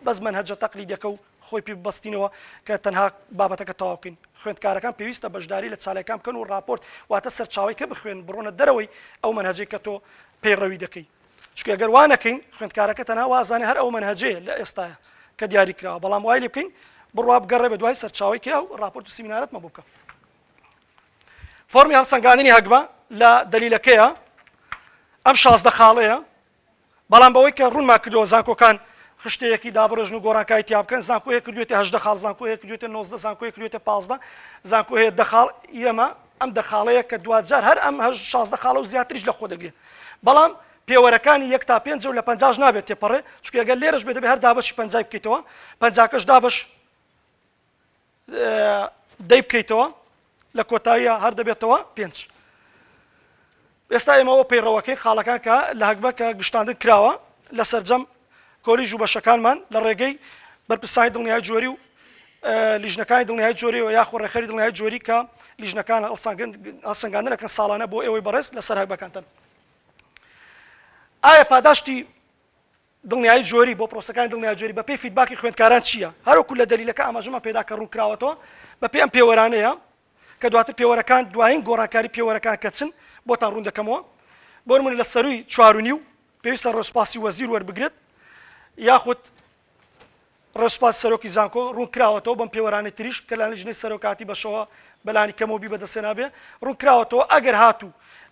A: بەس منهجە تەقلیدەکە و خۆی پێ ببەستینەوە کە تەنها بابەتەکە تەواوکەین خوێندکارەکان پێویستە بەشداری لە چالاکان بکەن و ڕاپۆرت واتە سەرچاوی کە بخوێن بڕۆنە دەرەوەی ئەو منهجەی کە تۆ پەیڕەوی دەکەی چکە گەر وانەکەین خوێندکارەکە تەنها وازانێ هەر ئەو منهجەیە لە ئێستاە کە دیاری کراوە بەڵام وای لێ بکەین بڕوا بگەڕێ بە دوای سەرچاوی کە ئەو ڕاپۆرت و سیمینارەتمە بووکە فۆرمی هەڵسەنگاندنی هەگبە لە دەلیلەکەیە ئەم شازدە خاڵەیە بەڵام بەوەی کە ڕوونما کردەوە زانکۆکان خشتەیەکی دابڕژن و گۆڕانکای تیا بکەن زانکۆیە کردوێتە هەشدە خاڵ زانکۆیە کردوێتە نۆزدە زانکۆی کردوێتە پازدە زانکۆهەیە دەخاڵ ئێمە ئەم دەخاڵەیە کە دوجار هەر ئەم هەش شازدە خاڵە و زیاتریش لە خۆ دەگرێت بەڵام پێوەرەکانی یەک تا پێنج و لە پنجاش نابێت تێپەڕێ چکێگەل لێرەش بێت بە هەر دابش پنجای بکەیتەوە پنجاکەش دابش دەی بکەیتەوە لە کۆتاییە هەر دەبێتەوە پێنج. ئێستا ئێمە ئەوە پەیڕەوەکەی خاڵەکان کە لە هەگبە کە گشتاندن کراوە لە سەرجەم کۆلیژ و بەشەکانمان لە ڕێگەی بەرپرسانی دڵنیای جۆری و لیژنەکانی دڵنیای جۆری و یاخۆ ڕێخەری دڵنیای جۆری کە لیژنەکان هەڵسەنگاندنەکەن ساڵانە بۆ ئێوەی بەڕێز لەسەر هەگبەکانتن ئایا پاداشتی دڵنیایی جۆری، بۆ پرۆسەکانی دڵنیایی جۆری بەپێی فیدباکی خوێندکاران چییە؟ هەروەکو لە دەلیلەکە ئاماژەمان پێدا کە ڕوونکراوەتەوە بەپێی ئەم پێوەرانەیە کە دواتر پێوەرەکان دوایین گۆڕانکاری پێوەرەکان کە چن بۆتان ڕوون دەکەمەوە بۆ نموونە لە سەرووی چوار و نیو پێویستە ڕێوسپاسی وەزیر وەربگرێت یاخود ڕێوسپاسی سەرۆکی زانکۆ ڕوونکراوەتەوە بەم پێوەرانەی تریش کە لە لیژنەی سەرۆکاتی بەشەوە بەلانی کەمەوە بی بەدەستێنابێ ڕوونکراوەتەوە ئەگەر هاتوو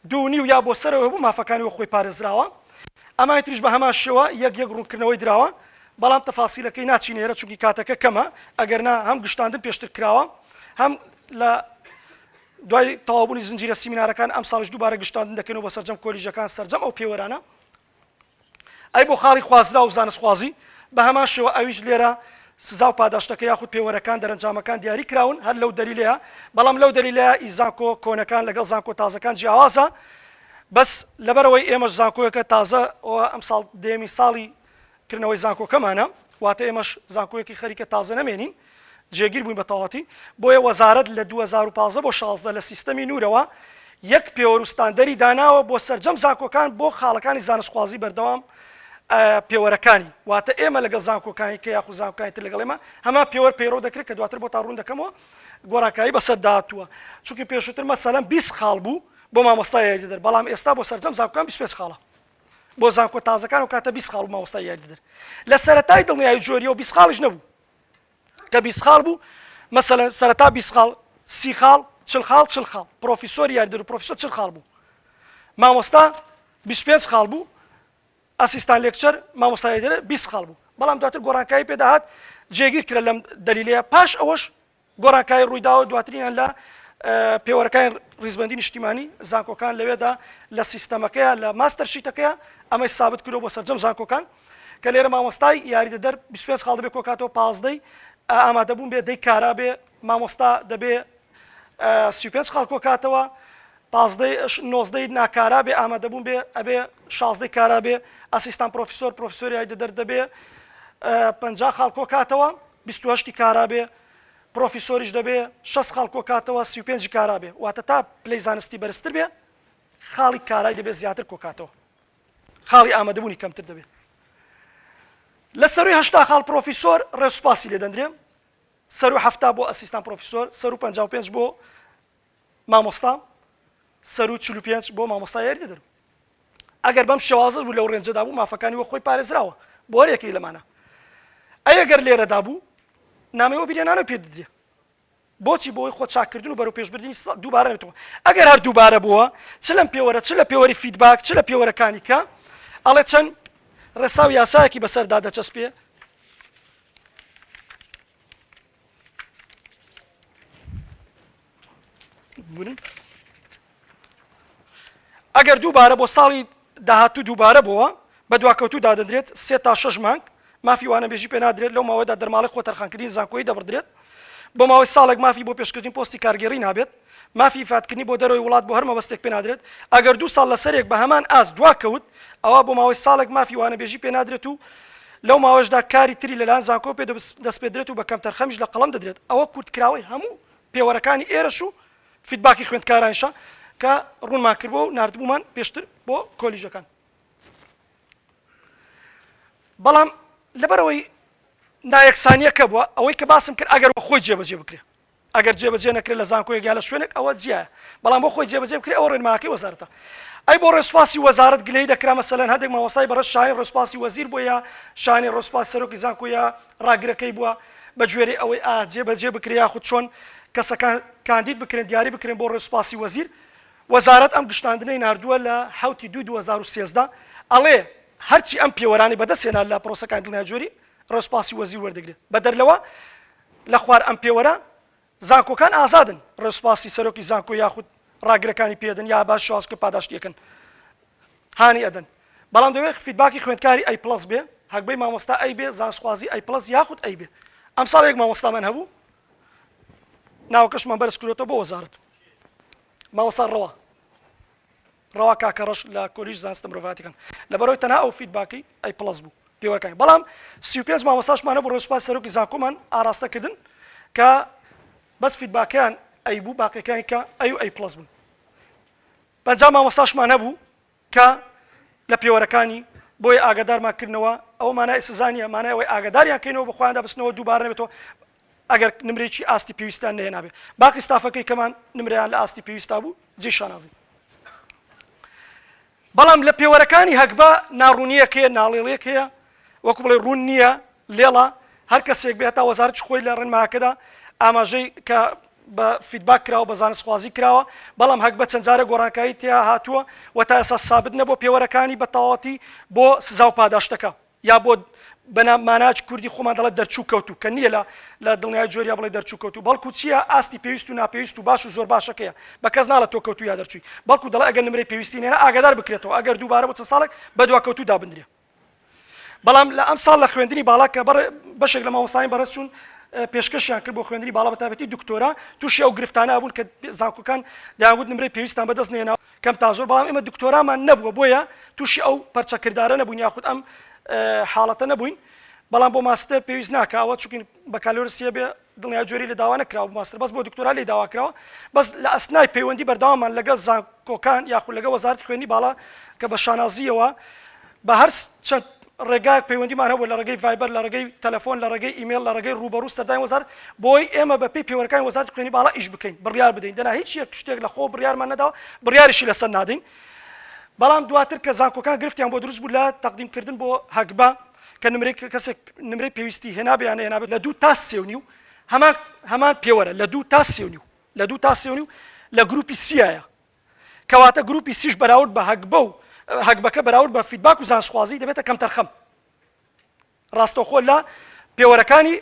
A: دوو نیو یا بۆ سەرەوە هەبوو مافەکانی وەک خۆی پارێزراوە ئەمانی تریش بە هەمان شێوە یەک یەک ڕوونکردنەوەی دراوە بەڵام تەفاسیلەکەی ناچینە ئێرە چونکی کاتەکە کەمە ئەگەر نا هەم گشتاندن پێشتر کراوە هەم لە دوای تەواوبوونی زنجیرە سیمینارەکان ئەمساڵیش دووبارە گشتاندن دەکەینەوە بە سەرجەم کۆلیژەکان سەرجەم ئەو پێوەرانە ئەی بۆ خاڵی خوازراو و زانستخوازی؟ بە هەمان شێوە ئەویش لێرە سزا و پاداشتەکە یاخود پێوەرەکان، دەرەنجامەکان دیاری کراون هەر لەو دەلیلەیە، بەڵام لەو دەلیلەیە ئی زانکۆ کۆنەکان لەگەڵ زانکۆ تازەکان جیاوازە، بەس لەبەر ئەوەی ئێمەش زانکۆیەکە تازە و ئەمساڵ دەیەمین ساڵی کردنەوەی زانکۆکەمانە واتە ئێمەش زانکۆیەکی خەریکە تازە نەمێنین جێگیر بووین بە تەواتی بۆیە وەزارەت لە 2015 بۆ 16 لە سیستەمی نورەوە یەک پێوەر و ستاندەری داناوە بۆ سەرجەم زانکۆکان بۆ خاڵەکانی زانستخوازی بەردەوام پێوەرەکانی واتە ئێمە لەگەڵ زانکۆکانی کە یاخو زانکۆکانی تر لەگەڵ ئێمە هەما پێوەر پەیڕەو دەکرێت کە دواتر بۆ تا ڕوون دەکەمەوە گۆڕاکایی بەسەر داهاتووە چونکی پێشووتر مەسەلەن 20 خاڵ بوو بۆ مامۆستای یاریدەدەر بەڵام ئێستا بۆ سەرجەم زانکۆکان 25 خاڵە بۆ زانکۆ تازەکان و کاتە بیست خاڵ مامۆستا یاری دەدر لە سەرەتای دڵنیایی جۆریە و بیست خاڵیش نەبوو کە بیست خاڵ بوو مەسەلەن سەرەتا بیست خاڵ سی خاڵ چل خاڵ چل خاڵ پرۆفیسۆر یاریدەر و پرۆفیسۆر چل خاڵ بوو مامۆستا 25 خاڵ بوو ئەسیستان لێکچەر مامۆستا یاریدەر بیست خاڵ بوو بەڵام دواتر گۆڕانکاری پێداهات جێگیر کرا لەم دەلیلەیە پاش ئەوەش گۆڕانکای ڕوویداوە دواترینیان لە پێوەرەکانی ڕیزبەندی نیشتیمانی زانکۆکان لەوێدا لە سیستەمەکەیە لە ماستەر شیتەکەیە ئەمەی سابت کرۆ بۆ سەررجەم زانکۆکان کە لێرە مامۆستای یاریدە دەر 25 خاڵ دەبێت کۆکاتەوە پازدەی ئامادەبوون بێ دەی کارا بێ مامۆستا دەبێ 25 خاڵ کۆکاتەوە نۆزدەی ناکارا بێ ئامادەبوون بێ ئەبێ شازدەی کارا بێ ئەسیستان پرۆفیسۆر پرۆفسۆریای دەدەر دەبێ پ خاڵ کۆکاتەوە بیست و هەشتی کارا بێ پرۆفیسۆریش دەبێ شەست خاڵ کۆکاتەوە سی و پێنجی کارا بێ واتە تا پلەی زانستی بەرزتر بێ خاڵی کارای دەبێ زیاتر کۆکاتەوە خاڵی ئامادەبوونی کەمتر دەبێ لە سەروی هەشتا خاڵ پرۆفیسۆر ڕێسوپاسی لێ دەندرێ سەرو هەفتا بۆ ئەسیستان پرۆفیسۆر سەرو پەنجا و پێنج بۆ مامۆستام سەروو چل و پێنج بۆ مامۆستا یاریدە دەرو ئەگەر بەم شێوازەش بوو لەو رێنجەدا بوو مافەکانی وەک خۆی پارێزراوە بۆ هەر یەکەی لەمانە ئەی ئەگەر لێرەدا بوو نامەی وەبیرێنانە پێ ددرێ بۆچی بۆی خۆ چاکردن و بەرەو پێشبردننی سا دووبارە نێتەوە ئەگەر هەر دووبارە بووە چ لەم پێوەرە چ لە پێوەری فیدباک چ لە پێوەرەکانی کە ئەڵێ چەند ڕێسا و یاسایەکی بەسەردا دەچەسپێ ئەگەر دووبارە بۆ ساڵی داهاتوو دووبارە بووە بە دواکەوتوو دادەدرێت سێ تا شش مانگ مافی وانەبێژی پێ نادرێت لەو ماوەدا دەرماڵی خۆ تەرخانکردنی زانکۆی دەبڕدرێت بۆ ماوەی ساڵێک مافی بۆ پێشکردنی پۆستی کارگێڕی نابێت مافی ئیفادکردنی بۆ دەرەوەی وڵات بۆ هەر مەبەستێک پێنادرێت، ئەگەر دوو ساڵ لەسەریەک بە هەمان ئاست دواکەوت، ئەوا بۆ ماوەی ساڵێک مافی وانەبێژی پێنادرێت و لەو ماوەیەشدا کاری تری لەلایەن زانکۆوە پێ دەسپێدرێت و بە کەمتەرخەمیش لە قەڵەم دەدرێت، ئەوە کورتکراوەی هەموو پێوەرەکانی ئێرەش و فیدباکی خوێندکارانیشە کە ڕوونمان کردووە و ناردبوومان پێشتر بۆ کۆلیژەکان. بەڵام لەبەرئەوەی نایەکسانییەکە بووە، ئەوەی کە باسم کرد ئەگەر وەک خۆی جێبەجێ بکرێت، ئەگەر جێبەجێ نەکرێت لە زانکۆیەک یا لە شوێنێک ئەوە جیایە بەڵام بۆ خۆی جێبەجێ بکرێت ئەوە ڕێنماکەی وەزارەتە ئەی بۆ ڕێسوپاسی وەزارەت گلەی دەکرا مەسەلەن هەندێک مامۆستای بەڕێز شاهین ڕێسوپاسی وەزیر بووە یا شاهین ڕێسوپاس سەرۆکی زانکۆ یا ڕاگرەکەی بووە بە گوێرەی ئەوەی ئا جێبەجێ بکرێ یاخود چۆن کەسەکان کاندید بکرێن دیاری بکرێن بۆ ڕێسوپاسی وەزیر وەزارەت ئەم گشتاندنەی ناردووە لە حەوتی دووی 2013 ئەڵێ هەرچی ئەم پێوەرانی بەدەستهێنا لە پرۆسەکانی دڵنیاجۆری ڕێسوپاسی وەزیر وەردەگرێت بەدەر لەوە لە خوار ئەم پێوەرە زانکۆکان ئازادن ڕێ سوپاسی سەرۆکی زانکۆ یاخود ڕاگرەکانی پێدەن یا باش شازکە پاداشتیەکەن هانی ئەدەن بەڵام دەوێت فیدباکی خوێندکاری ئەی پلس بێ هەگبەی مامۆستا ئەی بێ زانسخوازی ئەی پلس یاخود ئەی بێ ئەم ساڵ یەک مامۆستامان هەبوو ناوەکەشمان بەرز کرۆتە بۆ وەزارت مامۆسا ڕەوە ڕەوا کاکە ڕەش لە کۆلیژ زانستە مرۆڤایەتیەکان لەبەرەوەی تەنها ئەو فیدباکەی ئەی پڵەس بوو پێوەرەکانی بەڵام سی و پێنج مامۆستاشمان هەبوو ڕۆژ سوپاس سەرۆکی زانکۆمان ئاراستە کردن کە بەس فیدباکەیان ئەی بوو باقیەکانی کە ئەی و ئەی پڵەس بوون پەنجا مامۆستاشمان هەبوو کە لە پێوەرەکانی بۆیە ئاگادارمان کردنەوە ئەوە مانای سزا نیە مانای ئەوەی ئاگاداریان کەینەوە بە خۆیاندا بچنەوە دووبارە نەبێتەوە ئەگەر نمرەیەکی ئاستی پێویستیان نەهێنابێ باقی ستافەکەی کەمان نمرەیان لە ئاستی پێویستا بوو جێی شانازین. بەڵام لە پێوەرەکانی هەگبە ناڕوونیەک هەیە ناڵێڵێک هەیە وەکو بڵێ ڕوون نییە لێڵە هەر کەسێک بێ هەتا وەزارەتی خۆی لە ڕێنماکەدا ئاماژەی کە بە فیدباک کراوە بە زانستخوازی کراوە بەڵام هەک بە چەند جارە گۆڕانکایی تیا هاتووە و تا ئێسا سابت نەبوو پێوەرەکانی بە تەواوەتی بۆ سزا و پاداشتەکە یا بۆ بە نا ماناچ کوردی خۆمان دەڵێ دەرچوو کەوتوو کە نییە لە لە دڵنیای جۆریا بڵێ دەرچوو کەوتوو بەڵکو چییە ئاستی پێویست و ناپێویست و باش و زۆر باشەکەیە بە کەس ناڵە تۆ کەوتوو یا دەرچووی بەڵکو دەڵێ ئەگەر نمرەی پێویستی نێرە ئاگادار بکرێتەوە ئەگەر دووبارە بۆ چەند ساڵێک بە دوا کەوتوو دابندرێ بەڵام لە ئەم ساڵ لە خوێندنی باڵا کە بەڕێ بەشێک لە مامۆستایان بەڕێز چوون پێشکەشیان کرد بۆ خوێندنی باڵا بە تابەتی دکتۆرا تووشی ئەو گرفتانە بوون کە زانکۆکان داوت نمرەی پێویستان بەدەست نێناوە کەم تا زۆر بەڵام ئێمە دکتۆرامان نەبووە بۆیە تووشی ئەو پەرچە کردارە نەبوون یاخود ئەم حاڵەتە نەبووین بەڵام بۆ ماستەر پێویست ناکەوە چونکین بەکالۆرسیە بێ دڵنیا جۆری لە داوا نکراوە ماستر بەس بۆ دکتۆرا لی داواکراوە بەس لە ئەسنای پەیوەندی بەرداوامان لەگەڵ زانکۆکان یاخود لەگە وەزارت خوێنی باڵا کە بە شانازیەوە بە هەر چەند ڕێگایەک پەیوەندیمان هەبوو لە ڕێگەی ڤایبەر، لە ڕێگەی تەلەفۆن، لە ڕێگەی ئیمێڵ، لە ڕێگەی ڕووبەڕوو سەردانی وەزارەت بۆی ئێمە بە پێی پێوەرەکانی وەزارەتی خوێنی باڵا ئیش بکەین، بڕیار بدەین، دەنا هیچ یەک شتێک لە خۆوە بڕیارمان نەداوە، بڕیاریشی لەسەر نادەین. بەڵام دواتر کە زانکۆکان گرفتیان بۆ دروست بوو لە تەقدیم کردن بۆ هەگبا کە نمرەی کەسێک نمرەی پێویستی هێنابێ یان نەهێنابێ لە دوو تا سێ و نیو هەمان هەمان پێوەرە لە دوو تا سێ و نیو لە دوو تا سێ و نیو لە گرووپی سیایە. کەواتە گروپی سیش بەراورد بە هەگبە و هەگبەکە بەراورد بە فیدباک و زانستخوازی دەبێتە کەمتەرخەم. ڕاستەوخۆ لە پێوەرەکانی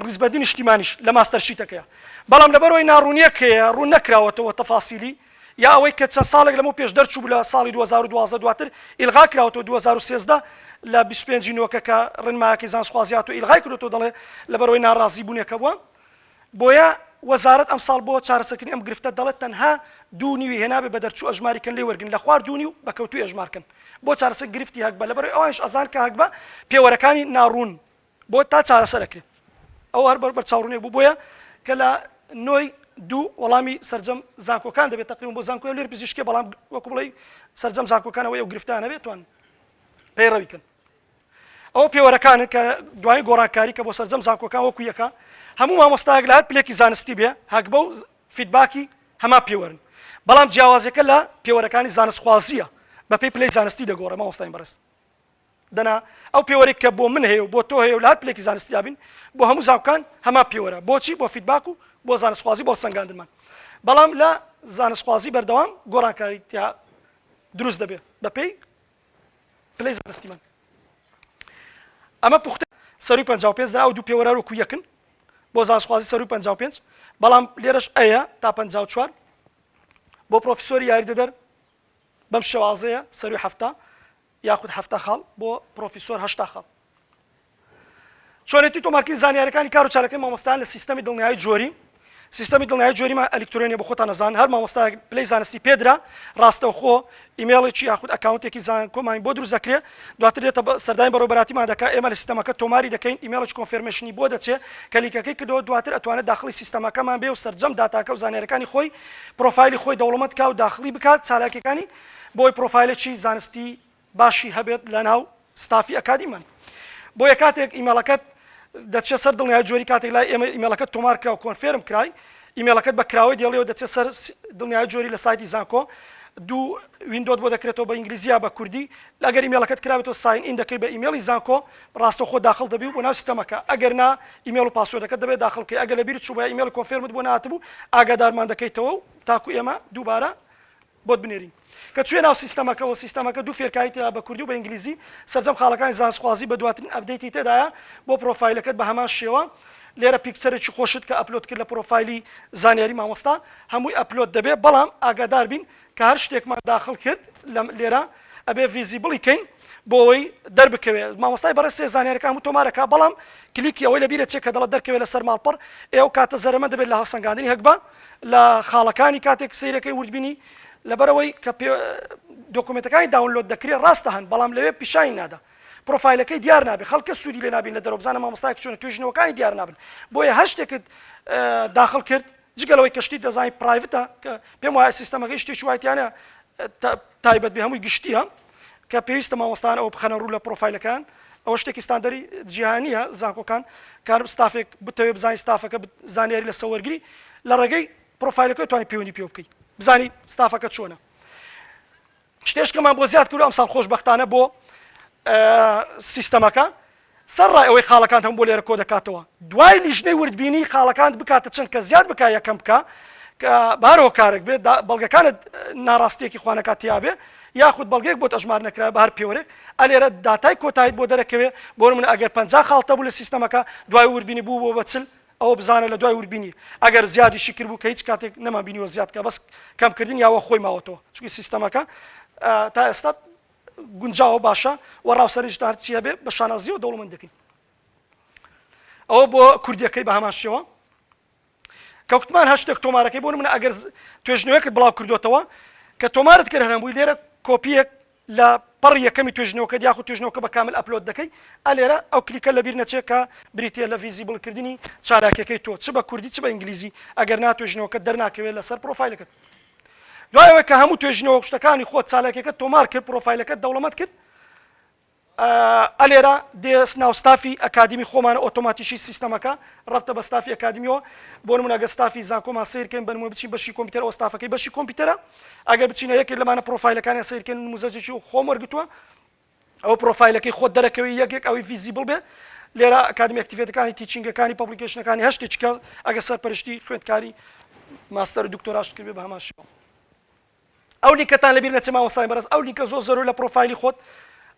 A: ڕیزبەندی نیشتیمانیش لە ماستەرشیتەکەیە. بەڵام لەبەرئەوەی ناڕوونییەک هەیە ڕوون نەکراوەتەوە تەفاسیلی یا ئەوەی کە چەند ساڵێک لەمەو پێش دەرچوو بوو لە ساڵی دوو هەزار و دوازدە دواتر ئیلغا کراوەتەوە دوو هەزار و سێزدە لە بیست و پێنج ی نۆکە کە ڕێنمایەکەی زانستخوازی هاتووە ئیلغای کردوەوە دەڵێ لەبەرئەوەی ناڕازیبوونێکە بووە. بۆیە وەزارەت ئەمساڵ بۆ چارەسەرکردنی ئەم گرفتە دەڵێت تەنها دوو نیوی هێنابێ بە دەرچوو ئەژماری کەن لێی وەرگن لە خوار دوو نیو بە کەوتووی ئەژمار کەن بۆ چارەسەر گرفتی هەگبە لەبەرەوەی ئەوانیش ئەزان کە هەگبە پێوەرەکانی ناڕوون بۆ تا چارەسەر ئەکرێ ئەو هەر بەر بەرچاوڕونێک بوو بۆیە کە لە نۆی دوو وەڵامی سرجەم زانکۆکان دەبێت تقریبا بۆ زانکۆی لێر پزیشکی بەڵام وەکو بڵێ سرجەم زانکۆکانەوە ئەو گرفتانەبێت توان پەیڕەوی کەن ئەوە پێوەرەکانن کە دوایین گۆڕانکاری کە بۆ سەرجەم زانکۆکان وەکو یەکە هەموو مامۆستایەک لە هەر پلێکی زانستی بێ هەگبە و فیدباکی هەمان پێوەرن بەڵام جیاوازەکە لە پێوەرەکانی زانستخوازیە بەپێی پلەی زانستی دەگۆڕێ مامۆستاین بەڕێز دەنا ئەو پێوەرێک کە بۆ من هەیە و بۆ تۆ هەیە و لە هەر پلێکی زانستیا بین بۆ هەموو زانکان هەمان پێوەرە بۆچی بۆ فیدباک و بۆ زانستخوازی بۆ سەنگاندنمان بەڵام لە زانستخوازی بەردەوام گۆڕانکاری تیا دروست دەبێت بەپێی پلەی زانستیمان ئەمە پوختە سەروی پەنجا و پێنج دا ئەو دوو پێوەرە وەکو یەکن بۆ زانستخوازی سەروی پەنجا و پێنج بەڵام لێرەش ئەیە تا پەنجا و چوار بۆ پرۆفیسۆری یاریدەدەر بەم شێوازەیە سەروی هەفتا یاخود هەفتا خاڵ بۆ پرۆفیسۆر هەشتا خاڵ چۆنێتی تۆمارکردنی زانیاریەکانی کارو چالاکیی مامۆستایان لە سیستەمی دڵنیایی جۆری سیستەمی دڵنیایی جۆریمان ئەلیکترۆنیە بۆ خۆتان ئەزان هەر مامۆستایەک پلەی زانستی پێدرا ڕاستەوخۆ ئیمێڵێکی یاخود ئەکاونتێکی زانکۆمان بۆ دروست دەکرێ دواتر دێتە بە سەردانی بەڕێوەبەراتیمان دەکا ئێمە لە سیستەمەکە تۆماری دەکەین ئیمێڵێکی کۆنفێرمێشنی بۆ دەچێ کە لینکەکەی کردەوە دواتر ئەتوانێت داخڵی سیستەمەکەمان بێ و سەرجەم داتاکە و زانیاریەکانی خۆی پرۆفایلی خۆی دەوڵەمەند کا و داخڵی بکات چالاکیەکانی بۆی پرۆفایلێکی زانستی باشی هەبێت لەناو ستافی ئەکادیمان بۆیە کاتێک ئیمێڵەکەت دەچێت سەر دڵنیای جۆری کاتێک لای ئێمە ئیمێڵەکەت تۆمار کرا و کۆنفێرم کرای ئیمێڵەکەت بە کراوەی دێڵیەوە دەچێت سەر دڵنیای جۆری لە سایتی زانکۆ دوو ویندۆت بۆ دەکرێتەوە بە ئینگلیزی یا بە کوردی ئەگەر ئیمێڵەکەت کرابێتەوە ساین ئین دەکەی بە ئیمێڵی زانکۆ ڕاستەوخۆ داخل دەبی و بۆ ناو سیستەمەکە ئەگەر نا ئیمێڵ و پاسۆردەکەت دەبێت داخل بکەی ئەگەر لەبیرت چووبە یا ئیمێڵی کۆنفێرمت بۆ نهاتبوو ئاگادارمان دەکەیتەوە و تاکو ئێمە دووبارە بۆت بنێرین کە چوویە ناو سیستەمەکە و سیستەمەکە دوو فێرکاری تێدایە بە کوردی و بە ئینگلیزی سەرجەم خاڵەکانی زانستخوازی بە دواترین ئەپدەیتی تێدایە بۆ پرۆفایلەکەت بە هەمان شێوە لێرە پیکچەرێکی خۆشت کە ئەپلۆد کرد لە پرۆفایلی زانیاری مامۆستا هەمووی ئەپلۆد دەبێت بەڵام ئاگاداربین کە هەر شتێکمان داخڵ کرد لەم لێرە ئەبێ ڤیزیبڵی کەین بۆوەی دەربکەوێ مامۆستای بەڕێ سێ زانانیارەکان و تۆمارەکە بەڵام کلیکی ئەوەی لە بیرە چێ کە دەڵە دەرکەوێت لەسەر ماڵپەڕ ئێو کاتە زەرمە دەبێت لە هەڵسەنگاندنی هەگبە لە خاڵەکانی کاتێک سیرەکەی وردبینی لەبەرەوەی کە دۆکومنتەکانی داونلۆد دەکرێت ڕاستە هەن بەڵام لەوێ پیشانی نادا پرۆفایلەکەی دیار نابێت خەڵکە سوودی لێ نابین لە دەرۆبزانە مامۆستای چۆن توێژنەوەکانی دیار نابن بۆیە هەر شتێکت داخل کرد جگە لەوەی کەشتی دەزاین پرایڤتە کە پێم وایە سیستەمەکەی شتێکی وای تیانە تایبەت بێ هەمووی گشتیە کە پێویستە مامۆستان ئەوە بخەنە ڕوو لە پرۆفایلەکان ئەوە شتێکی ستاندەری جیهانیە زانکۆکان کار ستافێک بتەوێ بزانین ستافەکە زانیاری لە سەوەرگری لە ڕێگەی پرۆفایلەکە توانانی پەیوەندی پێ بکەیت بزانی ستافەکە چۆنە شتێشکەمان بۆ زیاد کردوە ئەمساڵ خۆشبەختانە بۆ سیستەمەکە سەر ڕای ئەوەی خاڵەکان هەم بۆ لێرە کۆ دەکاتەوە دوای لیژنەی وردبینی خاڵەکان بکاتە چەند کە زیاد بک یەکەم بکە کە بارۆکارێک بێت بەڵگەکانت ناڕاستیەکی خوانەکە تیاابێ یاخود بەڵگەیەک بۆ ئەژمار نەکرا بە هەر پێوەێک ئەلێرە داتای کۆتایت بۆ دەرەکەوێ بۆ من ئەگەر پ خاڵتە بوو لە سیستەمەکە دوای وردبینی بوو بۆ بەچل ئەوە بزانە لەدوای وربینی ئەگەر زیادیشی کردبوو کە هیچ کاتێک نەمان بینیوە زیاد کە بەس کەم کردنی ئەوە خۆی ماوەتەوە چونکی سیستەمەکە تا ئێستا گونجاوە باشە و ڕاوسەرنجدا هەرچی هەبێ بە شانازیەوە دەوڵەمەند دەکەین ئەوە بۆ کوردیەکەی بە هەمان شێوە کەوتمان هەشتێک تۆمارەکەی بۆ منە ئەگەر توێژنەوەکە بڵاو کردوێتەوە کە تۆمارت کرد هەرەمبووی لێرە کۆپیەک لە پەڕی یەکەمی توێژینەوەکەت یاخود توێژینەوەکە بە کامل ئەپلۆد دەکەی ئا لێرە ئەو کلیکە لەبیر نەچێ کە بریتیە لە ڤیزیبڵ کردنی چالاکیەکەی تۆ چ بە کوردی چ بە ئینگلیزی ئەگەر نا توێژینەوەکەت دەرناکەوێت لەسەر پڕۆفایلەکەت دوای ئەوەی کە هەموو توێژینەوە شتەکانی خۆت چالاکیەکەت تۆمار کرد پڕۆفایلەکەت دەوڵەمەت کرد ئە لێرە دێ ناو ستافی ئەکادیمی خۆمانە ئۆتۆماتیکی سیستەمەکە ڕەبتە بە ستافی ئەکادیمیەوە بۆ نمونە ئەگەر ستافی زانکۆمان سیر کەین بە نمونە بچین بەشی کۆمپیوتەر ئەوە ستافەکەی بەشی کۆمپیوتەرە ئەگەر بچینە یەکێک لەمانە پرۆفایلەکانیان سیر کەین نموزەجێکی و خۆم وەرگتووە ئەو پرۆفایلەکەی خۆت دەرەکەوی یەکێک ئەوی ڤیزیبل بێ لێرە ئەکادمی ئەکتیڤێتەکانی تیچینگەکانی پبلیکیشنەکانی هەشتێکی کە ئەگە سەرپەرشتی خوێندکاری ماستەر و دکتۆراشت کرد بێ بە هەمان شێوە ئەو لینکەتان لەبیر نەچێ مامۆستای بەڕێز ئەو لینکە زۆر زەرورە لە پڕۆفایلی خۆت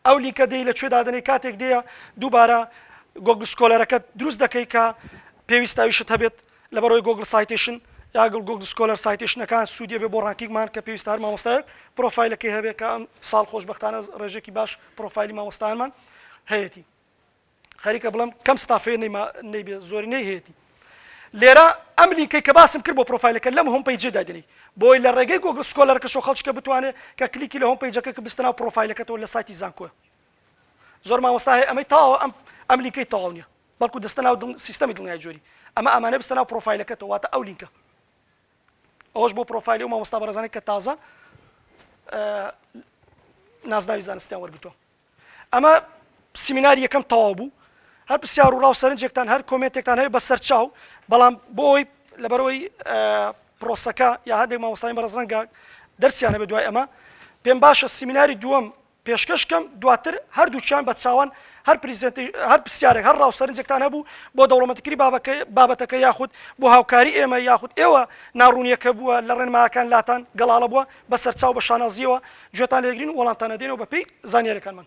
A: ئەو لینکە دێی لە کوێ دادەنێی کاتێک دێیە دووبارە گۆگڵ سکۆلەرەکەت دروست دەکەی کە پێویستە ئەویشت هەبێت لەبەرەوەی گۆگڵ سایتێشن یا گڵ گۆگڵ سکۆلەر سایتێشنەکان سوودیە بێ بۆ ڕانکینگمان کە پێویستە هەر مامۆستایەک پرۆفایلەکەی هەبێت کە ئەم ساڵ خۆشببختانە ڕێژێکی باش پرۆفایلی مامۆستایانمان هەیەتی خەریکە بڵێم کەم ستافێ نەیما نەیبێ زۆرینەی هەیەتی لێرە ئەم لینکەی کە باسم کرد بۆ پرۆفایلەکە لەم هۆم پەیجێ دادنی بۆی لە ڕێگەی گۆگڵ سکۆلەرەکەشەوە خەڵکیکە بتوانێت کە کلیکی لە هۆم پەیجەکە کە بستە ناو پرۆفایلەکەتەوە لە سایتی زانکۆ زۆر مامۆستا هەیە ئەمەی تاوە ئەم ئەم لینکەی تەواو نییە بەڵکو دەستە ناو دڵ- سیستەمی دڵنیای جۆری ئەمە ئەمانە بستە ناو پرۆفایلەکەتەوە واتە ئەو لینکە ئەوەش بۆ پرۆفایلی و مامۆستا بەڕێزانێک کە تازە ئە، نازناوی زانستیان وەرگرتووە ئەمە سیمیناری یەکەم تەواو بوو هەر پرسیار و ڕاو سەرنجێکتان هەر کۆمێنتێکتان هەیە بە سەرچاو بەڵام بۆ ئەوی لەبەرەوەی پرۆسەکە یا هەندێک مامۆستای بەڕز ڕەنگە دەرسیانە بە دوای ئەمە پێم باشە سیمیناری دووەم پێشکەشکەم دواتر هەردووچیان بە چاوان هەر پرزیزنتی هەر پرسیارێک هەر ڕاوسەرنجێکتان هەبوو بۆ دەوڵەمەتکری بابەکە بابەتەکە یاخود بۆ هاوکاری ئێمە یاخود ئێوە ناڕوونیەکە بووە لە ڕێنماکان لاتان گەڵاڵە بووە بە سەرچاو بە شانازییەوە گوێتان لێ دەگرین و وەڵامتان ئەدەینەوە بە پێی زانیارییەکانمان.